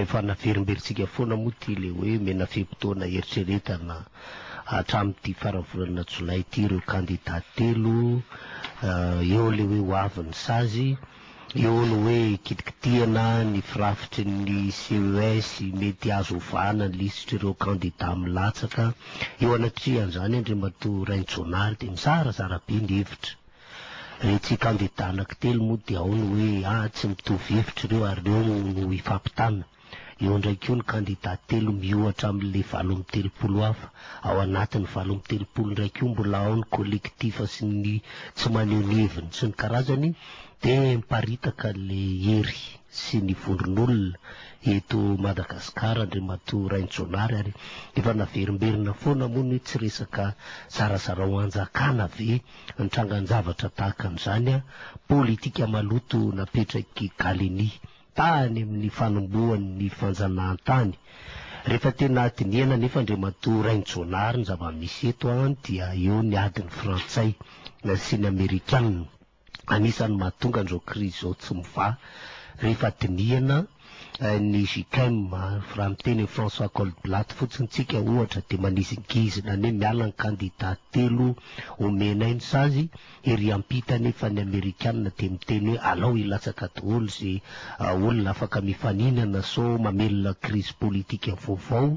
Efa naverimberintsika foana moa ity ilay hoe omena fe-potoana hieritreretana hatramin'ity faran'ny volana jolay ity ireo kandida telo, eo ilay hoe ho avy ny sazy, eo ny hoe kitikitihana ny firafitry ny CES mety azo ovana ny lisitr'ireo kandida milatsaka. Eo anatrehan'izany Andriamatoa Rainjoanary dia mizarazara be ny hevitra. Retsy kandida anankitelo moa dia ao ny hoe ah tsy mitovy hevitra ireo ary ireo no hifampitana. Eo indray koa ny kandida telo miohatra amin'ilay valo amby telopolo hafa. Ao anatin'ny valo amby telopolo indray koa mbola ao ny kolektifa sy ny tsy maneho ny heviny sy ny karazany dia miparitaka ilay hery sy ny vondron'olona eto Madagasikara Andriamatoa Rainijaonary ary efa naverimberina foana moa ny hoe tsy resaka zarazarao hanjakana ve ny trangan-javatra tahaka an'izany politika maloto napetrak'i Galeni tany amin'ny fanombohan'ny fanjanahantany. Rehefa tena dinihana anefa Andriamatoa Rainjonary ny zava-misy eto dia eo ny adin'ny Frantsay sy ny Amerikana. Anisan'ny mahatonga an'izao krizy izao tsy mivaha rehefa dinihana ny JICM, raha miteny an'i François Goldblatt fotsiny tsika ohatra dia manizingizina anie miala ny kandida telo omenay ny sazy, ery ampita anefa ny amerikana dia miteny hoe alao hilatsaka daholo ze olona afaka mifaninana sao mamelona krizy politika vaovao,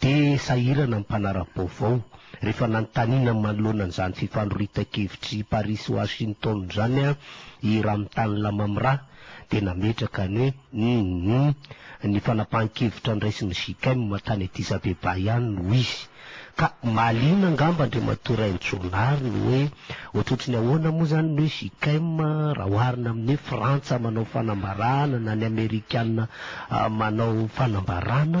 dia sahirana ny mpanara-baovao rehefa nanontaniana manoloana an'izany fifandroritan-kevitry Paris sy Washington izany i Ramtane Lamamra, dia nametraka ny humm ny fanapahan-kevitra niraisin'ny JICM tany Addis-Abeba ihany no izy. Ka mahaliana angamba Andriamatoa Rainjonary ny hoe ohatrohatry ny ahoana moa izany ny hoe JICM raha oharina amin'ny hoe Frantsa manao fanambarana na ny Amerikana manao fanambarana,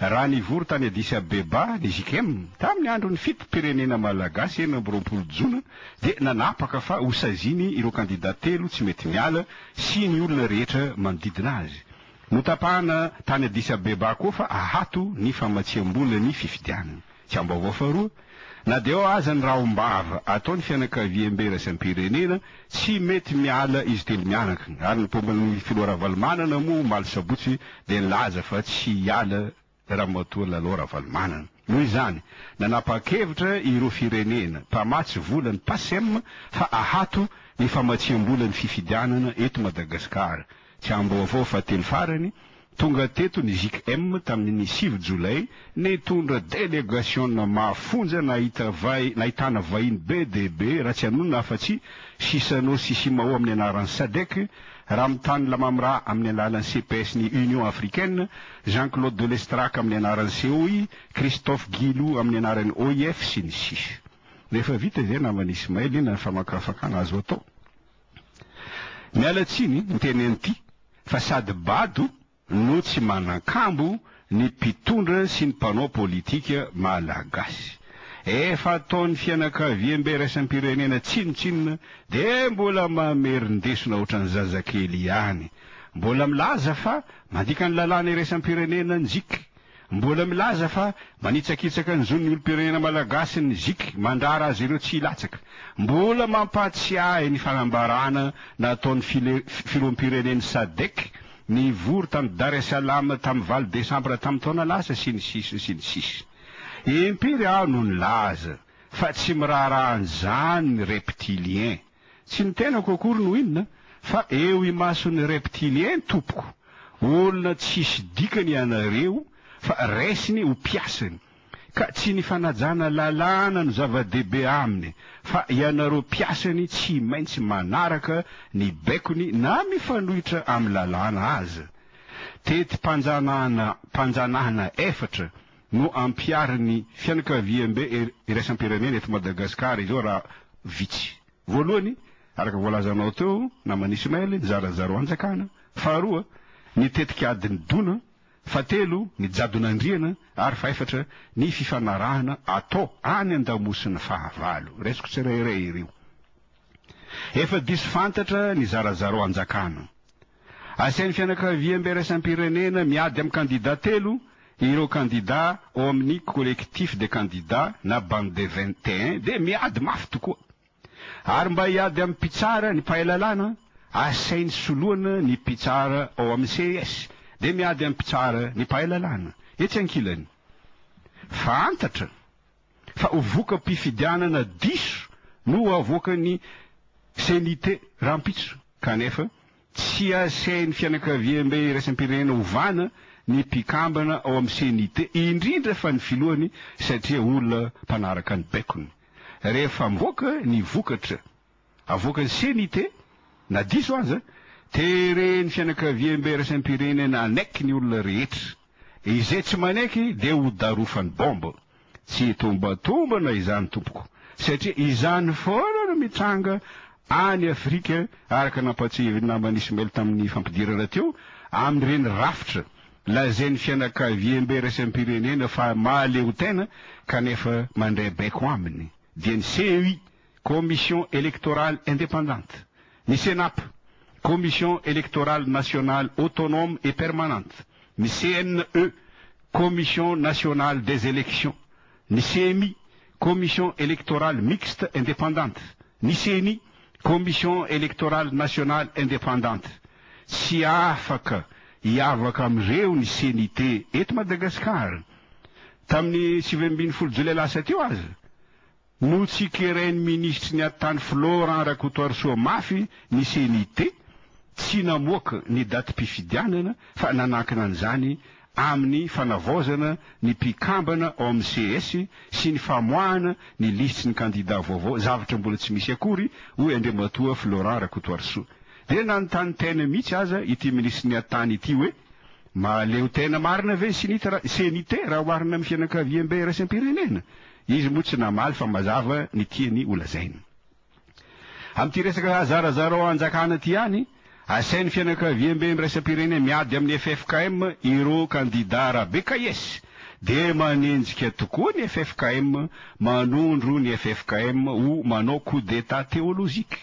Raha nivory tany Addis Abeba ny JICM tamin'ny andron'ny fitim-pirenena malagasy enina amby roapolo jona dia nanapaka fa hosaziany ireo kandida telo tsy mety miala sy ny olona rehetra manodidina azy. Notapahana tany Addis Abeba koa fa ahato ny famatsiam-bola ny fifidianana. Tsiambaovao faharoa, na dia ao aza ny rahom-bava ataon'ny fianakaviambe raisam-pirenena, tsy mety miala izy telo mianaka, ary ny paompin'ny filoha Ravalomanana moa omaly sabotsy dia nilaza fa tsy hiala ramatoa Lalao Ravalomanana. Noho izany, nanapa-kevitra ireo firenena mpamatsy vola ny PACEM fa ahato ny famatsiam-bola ny fifidianana eto Madagasikara. Tsy ambaovao fa teny farany, tonga teto ny JKM tamin'ny sivy jolay, nitondra delegasiona mafonja nahita vay, nahitana vahiny be dia be, raha tsy anonona afa-tsy Chissano sy Simao amin'ny anaran'ny Sadec, Ramtane Lamamra amin'ny alalan'ny CPS ny Union africaine, Jean Claude de Lestrac amin'ny anaran'ny COI, Christophe Guilou amin'ny anaran'ny OIF sy ny sisa. Rehefa vita izay naman'i Ismail, inona ny famakafakana azo atao? Miala tsiny ny teny an'ity fa sady bado no tsy manan-kambo ny mpitondra sy ny mpanao politika malagasy. Efa ataon'ny fianakaviambe iraisam-pirenena tsinontsinona dia mbola mamerin-desona ohatran'ny zazakely ihany. Mbola milaza fa mandika ny lalàna iraisam-pirenena njiky. Mbola milaza fa manitsakitsaka ny zon'ny olom-pirenena malagasy ny Zic mandrara azy ireo tsy hilatsaka. Mbola mampahatsiahy ny fanambarana nataon'ny Filoham-pirenen'ny Sadec nivory tany Dar es Salaam tamin'ny valo desambra tamin'ny taona lasa sy ny sisa sy ny sisa. Impiry aho no nilaza fa tsy miraharaha an'izany ny reptiliens. Tsy ny tenako akory no inona fa eo imason'ny reptiliens tompoko, olona tsisy dikany ianareo fa raisiny ho mpiasany ka tsy ny fanajana lalàna no zava-dehibe aminy fa ianareo mpiasany tsy maintsy manaraka ny baikony na mifanohitra amin'ny lalàna aza, tetim-panjanahana mpanjanahana efatra no ampiharin'ny fianakaviambe iraisam-pirenena eto Madagasikara izao raha vitsy. Voalohany, araka voalazanao teo naman'i Ismaël, ny zarazaraoan-jakana, faharoa, ny tetikadin'ny dona, fahatelo, ny jadon'andriana, ary fahefatra, ny fifanarahana atao any an-damosina, fahavalo. Raisiko tsirairay ireo. Efa diso fantatra ny zarazaraoan-jakana. Asain'ny fianakaviambe iraisam-pirenena miady amin'ny kandidà telo ireo kandidà ao amin'ny Collectif des candidats na Bande des vingt et un dia miady mafy tokoa. Ary mba hiady amin'ny mpitsara ny mpahay lalàna, asainy soloana ny mpitsara ao amin'ny ces dia miady amin'ny mpitsara ny mpahay lalàna etsy ankilany. Fantatra! fa ho voka-pifidianana diso no ho avoakan'ny CNIT rahampitso kanefa tsy asain'ny fianakaviambe iraisam-pirenena ovana ny mpikambana ao amin'ny CNIT indrindra fa ny filohany satria olona mpanaraka ny baikony rehefa mivoaka ny vokatra avoakan'ny CNIT, na diso aza, teren'ny fianakaviambe iraisam-pirenena hanaiky ny olona rehetra. Izay tsy manaiky dia ho darofany bombe. Tsy hitombatombana izany tompoko, satria izany foana no mitranga any Afrika araka nampahatsiahivin'ny namany Ismail tamin'ny fampidirana teo amin'ireny rafitra lazain'ny fianakaviambe iraisam-pirenena fa mahaleotena kanefa mandray baiko aminy dia ny CEI Commission Electorale Indépendante, ny Cenap, Commission Electorale Nationale Autonome et Permanente, ny CNE, Commission Nationale des Elections, ny Ceni, Commission Electorale Mixte Indépendante, ny Ceni, Commission Electorale Nationale Indépendante. Tsy afaka hiavaka amin'ireo ny CNIT eto Madagasikara. Tamin'ny sivy ambin'ny folo jolay lasa teo aza, Notsikerain'ny minisitry ny Atany Florent Rakotoarisoa mafy ny CNIT tsy namoaka ny datim-pifidianana fa nanankina an'izany amin'ny fanavaozana ny mpikambana ao amin'ny ces sy ny famoahana ny lisitry ny kandida vaovao, zavatra mbola tsy misy akory, hoy Andriamatoa Florent Rakotoarisoa. Dia nanontany tena mihitsy aza ity minisitry ny Atany ity hoe mahaleo tena marina ve ny CNIT raha oharina amin'ny fianakaviambe iraisam-pirenena? Izy moa tsy namaly fa mazava ny tiany holazaina. Amin'ity resaka zarazarao hanjakana ity ihany, asain'ny fianakaviamben'ny iraisam-pirenena miady amin'ny ffkm ireo kandida Rabekayes dia manenjika tokoa ny ffkm, manondro ny ffkm ho manao coup d'Etat théologique.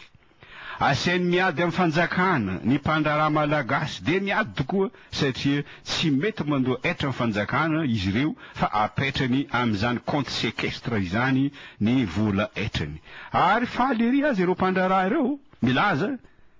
Asainy miady amin'ny fanjakana ny mpandraharaha malagasy dia miady tokoa satria tsy mety mandoa hetra ny fanjakana izy ireo fa apetrany amin'izany compte sequestre izany ny vola hetrany. Ary faly ery aza ireo mpandraharaha ireo milaza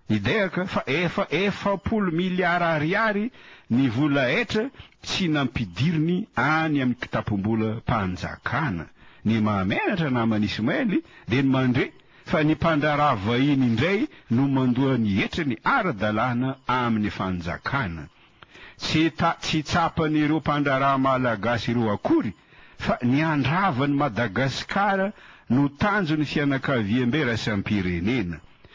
midehaka fa efa efapolo miliara ariary ny vola hetra tsy nampidiriny any amin'ny kitapom-bolam-panjakana. Ny mahamenatra naman'Ismaël dia ny mandre fa ny mpandraharaha vahiny indray no mandoa ny hetriny ara-dalàna amin'ny fanjakana. Tsy tsy tsapan'ireo mpandraharaha malagasy ireo akory fa ny handrava an'i Madagasikara no tanjon'ny fianakaviambe raisam-pirenena.